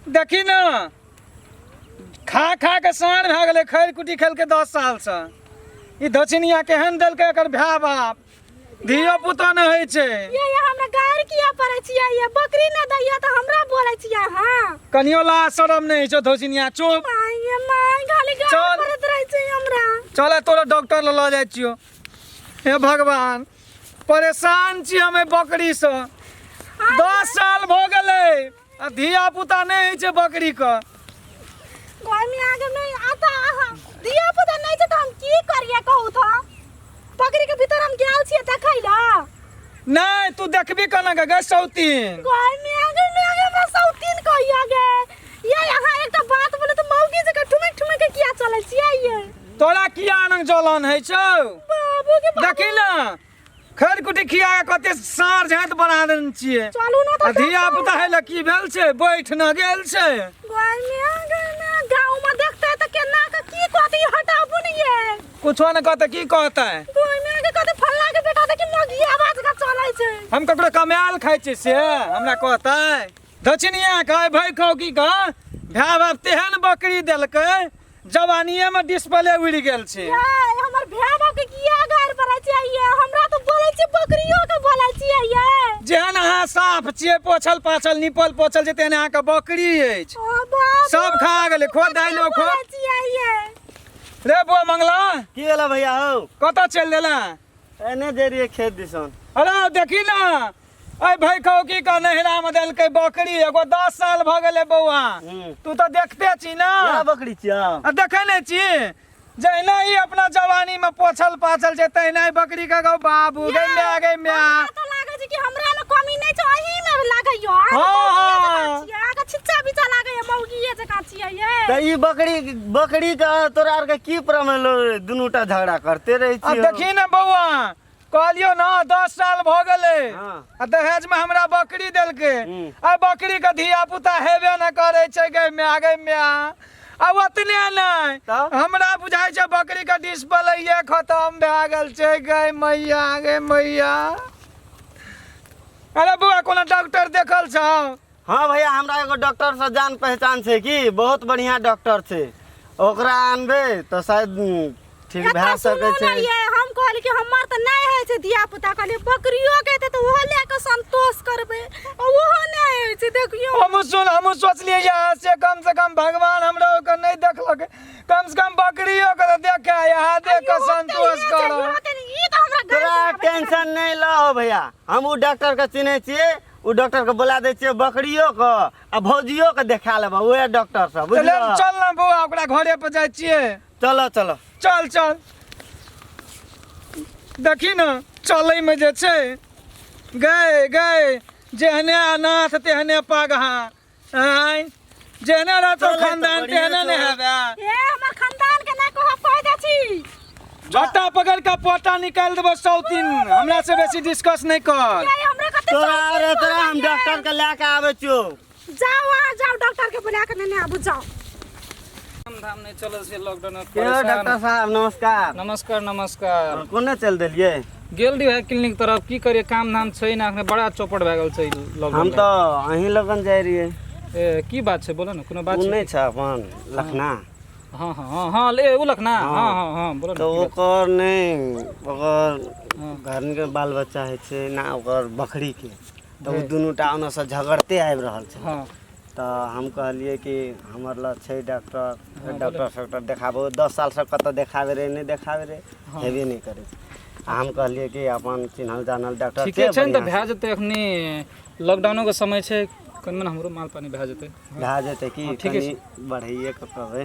देखी न खा खा के साँढ़ भए गेलै खैर कुटी खेलकै दस सालसँ ई धछिनिया केहन देलकै एकर भाय बाप धियो पुतो नहि होइ छै ये ये हमरा गाड़ी किया पड़े छियै ये बकरी न दैया तऽ हमरा बोले छियै अहाँ कनियो लाज शरम नहि होइ छौ धछिनिया चुप माय ये माय खाली गाड़ी चल। पड़त रहे छै हमरा चल तोरा डॉक्टर लग लऽ जाइ छियो हे भगवान परेशान छी हम एहि बकरीसँ दस साल भऽ गेलै आ धिया पुता नहि होइ छै बकरी के घर में आगे में आता आहा दिया पुता नहीं छै त हम की करिए कहू तो बकरी के भीतर हम गेल छिए देखै ला नहि तू देखबी केना के गै सौतीन घर में आगे में आगे हमरा सौतीन कहिया गे ये यहाँ एकटा बात बोले तो मौगी जका ठुमक ठुमक के किया चले छिए ये तोरा किया आनंद जलन होइ छौ बाबू के देखी ने खैर कुटी खिया के कते सार झाँत बना देने छियै चलू ना आ तो धिया पुता है लऽ की भेल छै बैठ न गेल छै गोइया गइया गाँव में देखते हैं तो केना के की कहती हटाबू नहीं है कुछो न कहते की कहते गोइया के कहते फल्ला के बेटा देखी मगिया बात का चले छै हम ककरो कमायल खाइ छियै से हमरा कहते दक्षिणिया खाय भय खाउ की कह भाय बाप तेहन बकरी देलकै जवानिये में डिस्प्ले उड़ गेल छै ये हमर भेबो के किया गार पड़े छै ये हमरा तो बोले छी बकरियो के बोले छी ये जेहन अहाँ साफ छियै पोछल पाछल निपल पोछल छै तेहन अहाँके बकरी अछि ओ बाप सब खा गेलै खो दाइलो खो बोले छी ये रे बो मंगला की होला भैया हौ कतऽ चलि देला एने जे रहिए खेत दिसन अरे देखी ना अरे भाई कहो की का नहरा में देलकै बकरी एगो दस साल भ गेलै बौआ हम्म। तू तो देखते छी ना क्या बकरी छिया आ देखे नहीं छी जहिना ही अपना जवानी में पोछल पाछल छै तहिना ही बकरी के गौ बाबू गै माय गै माय हमरा तो लागै छै कि हमरा में कमी नहीं छै अही में लागै यो हाँ, हाँ। आगे छिच्चा बिचा लागै ये मौगिए जका छियै ये तो ई बकरी बकरी का तोरा आर के की प्रमेलो दुनूटा झगड़ा करते रहे अब छी देखी ना बौआ कहलियो ना दस साल भ गेले हाँ। आ दहेज में हमरा बकरी देलके हम्म। आ बकरी के धिया पुता हेबे न करे छै गै में आगे में आ आ ओतने नहीं तब? हमरा बुझाई छै बकरी के डिस्प्ले खत्म भए गेल छै गै मैया गै मैया अरे बौआ कोनो डॉक्टर देखल छौ हाँ भैया हमरा एगो डॉक्टर से जान पहचान छै कि बहुत बढ़िया डॉक्टर छै ओकरा आनबे तो शायद उम, ठीक एतऽ भए सुनू सकै ने छै ये, हम कहली कि हमर तऽ नहि होइ छै धिया पुता कहली बकरियो के हेतै तऽ ओहो लए कऽ संतोष करबै आ ओहो नहि होइ छै देखियो हम सुन हम सोचलिए यहाँ से कम से कम भगवान हमरा ओकर नहीं देखलक कम से कम बकरियो के तो देखे यहाँ देख के संतोष करो ई तऽ हमरा तोरा गाय टेंशन नहीं लहो भैया हम उ डॉक्टर के चिन्हे छिए ओ डॉक्टर के बोला दे छियै बकरियो के आ भौजियो के देखा लेबा ओहे डॉक्टर सब चल बुझलऽ चल ना बौआ ओकरा घरे पर जाइ छियै चलऽ चलऽ चल चल देखी न चलै में जे छै गए गए जेहने अनाथ तेहने पगहा आय जेना रहतो चलै तऽ खानदान बढ़िया तेहने ने छौ। हेबे ए हमर खानदान के ना कह कह दे छी झट्टा पकड़ के पोटा निकाल देबो सौतीन हमरा से बेसी डिस्कस नहीं कर अरे हमरा कते तोरा सौतीन अरे तोरा हम बोलल डॉक्टर के लेके आवे छो जाओ वहाँ जाओ डॉक्टर के बुला के लेने आबू जाओ धाम नहि चलल छै लॉकडाउन मे के परेशान। डॉक्टर साहब नमस्कार नमस्कार नमस्कार और कोने चल देलिए गेल रहिए क्लिनिक तरफ की करिए काम धाम छै ना अखने बड़ा चौपट भए गेल छै ई हम लॉकडाउन तो अहीं लगन जाय रहिए मे। ए, की बात छै बोलो ना कोनो बात उ छै नहीं छ अपन लखना हाँ हाँ हाँ हाँ ले उ लखना हाँ हाँ हाँ बोलो ना तो की बात ओकर नहीं ओकर हाँ। घर के बाल बच्चा है छे ना ओकर बकरी के तो उ दुनू टा ओने से झगड़ते आबि रहल छै हाँ तऽ हम कहलियै कि हमर लग छै डॉक्टर डॉक्टर सॉक्टर देखाबहो दस सालसँ कतहु देखाबै रहै नहि देखाबै रहै हेबे नहि करै छै आ हम कहलियै कि अपन चिन्हल जानल डॉक्टर ठीके छै ने तऽ बढ़िआँ भए जेतै एखनी लॉकडाउनोके समय छै कनि मनि हमरो माल पानि भए जेतै भए जेतै कि हँ, ठीके कनि बढ़ैएके कहबै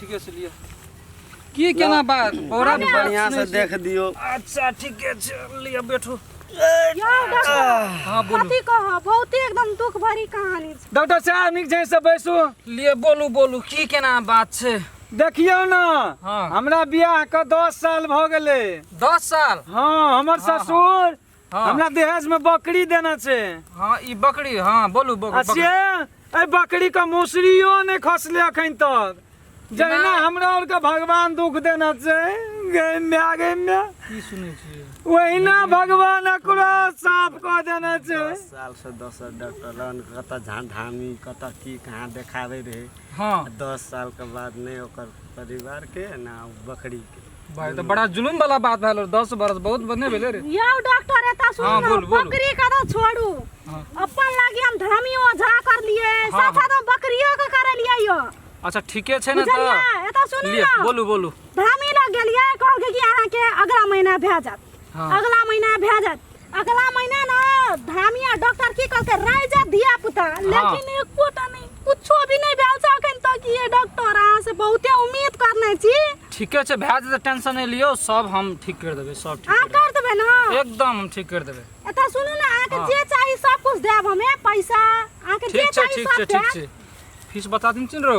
ठीके से लियो की केना बात बोरा में बात बढ़िया से सुनै छी। देख दियो अच्छा ठीके छै लियो बैठू यौ डॉक्टर हाँ बोलू कथी कह बहुते एकदम दुख भरी कहानी छै डॉक्टर साहब नीक छै से बैसू लियो बोलू बोलू की केना बात छै देखियौ ने हाँ। हमरा बियाह के दस साल भऽ गेलै दस साल हँ हमर हाँ। ससुर हाँ हमरा दहेज में बकरी देना छे हाँ ई बकरी हाँ बोलू बक- आ बकरी से ए बकरी का मौसरियो नहीं खसले अखन तक जहिना ना। हमरा और का भगवान दुख देना छे गई में आ गई में की सुनै छियै वहिना भगवान एकरो साफ कऽ देना छे दस साल से दस डॉक्टरन कतऽ झाँझामी कतऽ की कहाँ देखाबे रहे हाँ दस साल के बाद नहीं ओकर परिवार के ना बकरी के भाई तो बड़ा जुलूम वाला बात भेल दस बरस बहुत बने भेले रे यौ डॉक्टर एता सुनू हाँ, बोल, बोल। बकरी का तो छोड़ू हाँ। अपन लागी हम धर्मी ओझा कर लिए हाँ, साथ साथ हम बकरियो का कर लिए यो अच्छा ठीके छै ने बुझलिए तऽ एता सुनू लिअ ना बोलू बोलू धर्मी लग गेलिए कहलके कि अहाँ के अगला महीना भए जात हाँ। अगला महीना भए जात अगला महीना ना धामिया डॉक्टर की कहलकै रह जा धिया पुता लेकिन एको टा नहीं कुछो भी नहीं भेल छै अखन तक ये डॉक्टर अहाँ से बहुते उम्मीद करने छी ठीके छै भए जेतै टेंशन नहि लियौ सब हम ठीक करि देबै सब ठीक अहाँ करि कर देबै ने देबै। एकदम हम ठीक करि देबै एतऽ सुनू ने अहाँके हाँ। जे चाही सब कुछ देब हमे पैसा अहाँके जे ठीक छै चाही ठीक छै सब ठीक देब छै फीस बता दिन रौ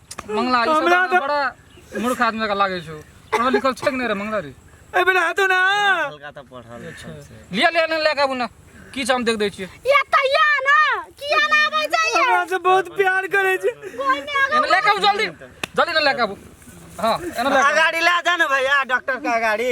मंगला ई सब हमरा गाना तऽ- बड़ा मूर्ख आदमी का लागे छौ पढ़ल लिखल छै कि नहीं रे मंगला रे ए बेटा हाथो ना हल्का तऽ पढ़ल लिखल छै। लिया लिया नहीं लेके आबू ना की छै हम देख दै छियै ये कहिया ना किया ना आबै छै ये हमरा से बहुत प्यार करे छै कोई ने आगे एने लेके आबू जल्दी जल्दी ना लेके आबू हाँ एने लेके आबू। अगाड़ी ला जा ने भैया डॉक्टर के अगाड़ी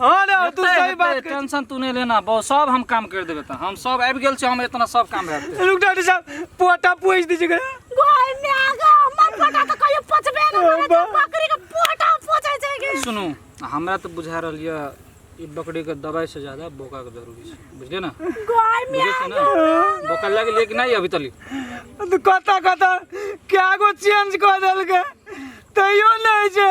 हाँ ना तू एते सही हेतै, बात कर टेंशन तू नहीं लेना बहुत सब हम काम कर देबे त हम सब आबि गेल छी हम इतना सब काम भए जेतै। रुक डॉक्टर साहब पोटा पूछ दीजिए घर में आ गया मत पटा तो कहियो पचबे ना करे तो बकरी के पोटा पोछे छै के सुनू हमरा तऽ बुझा रहल यऽ ई बकरी के दवाई से ज्यादा बोका के जरूरी छै बुझलियै ने गाय में बुझै छै ने बोका लग ले कि नहि अभी तली तो कता कता क्या गो चेंज कर देलके तैयो नहीं छै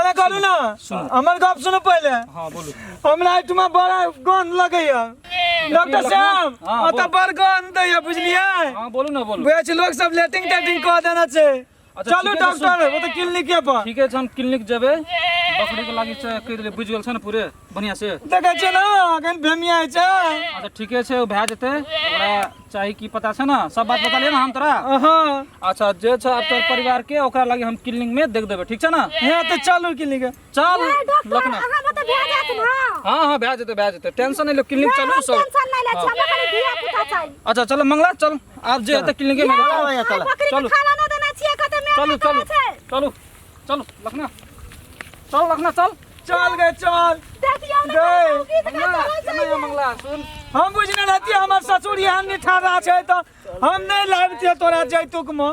अरे करू ना हमर गप सुनू पहिले हाँ बोलू हमरा एहिठमा बड़ा गंध लगैया डॉक्टर साहब हाँ, ओतऽ बोल। बड़ गंध दैया बुझलियै हाँ बोलू ना बोलू बुझै छी लोक सब लेटिंग टेटिंग कऽ देने छै अच्छा, चलू ठीके छै, डॉक्टर ओ तऽ क्लिनिके पर ठीके छै हम क्लिनिक जेबै बकरी के लागी से कहि देलियै बुझि गेल छै ने पूरे बढ़िया से देखे छै ना अखन भेमिया छै अच्छा ठीके छै ओ भए जेतै ओकरा चाही की पता छै ना सब बात बता ले ना हम तोरा अच्छा जे छै अब तोर परिवार के ओकरा लगे हम क्लिनिक में देख देबे ठीक छै ना हे तो चलू क्लिनिक चल लखना अहाँ बता भए जात ना हां हां भए जेतै भए जेतै टेंशन नै ले क्लिनिक चलू सब टेंशन नै ले छै हमरा खाली धिया पुता चाही अच्छा चल मंगला चल आप जे हेतै क्लिनिक में चल चल खाना नै देना छियै कते मेहनत चलू चलू चलू चल लखना चल लखना चल चल गए चल देखियो ना गए। मौगी तऽ मंगला कतऽ केना ये मंगला सुन हम बुझने रहती हमर ससुर यहाँ निठारा छै तो हम नहीं लाबते तोरा जैतुक में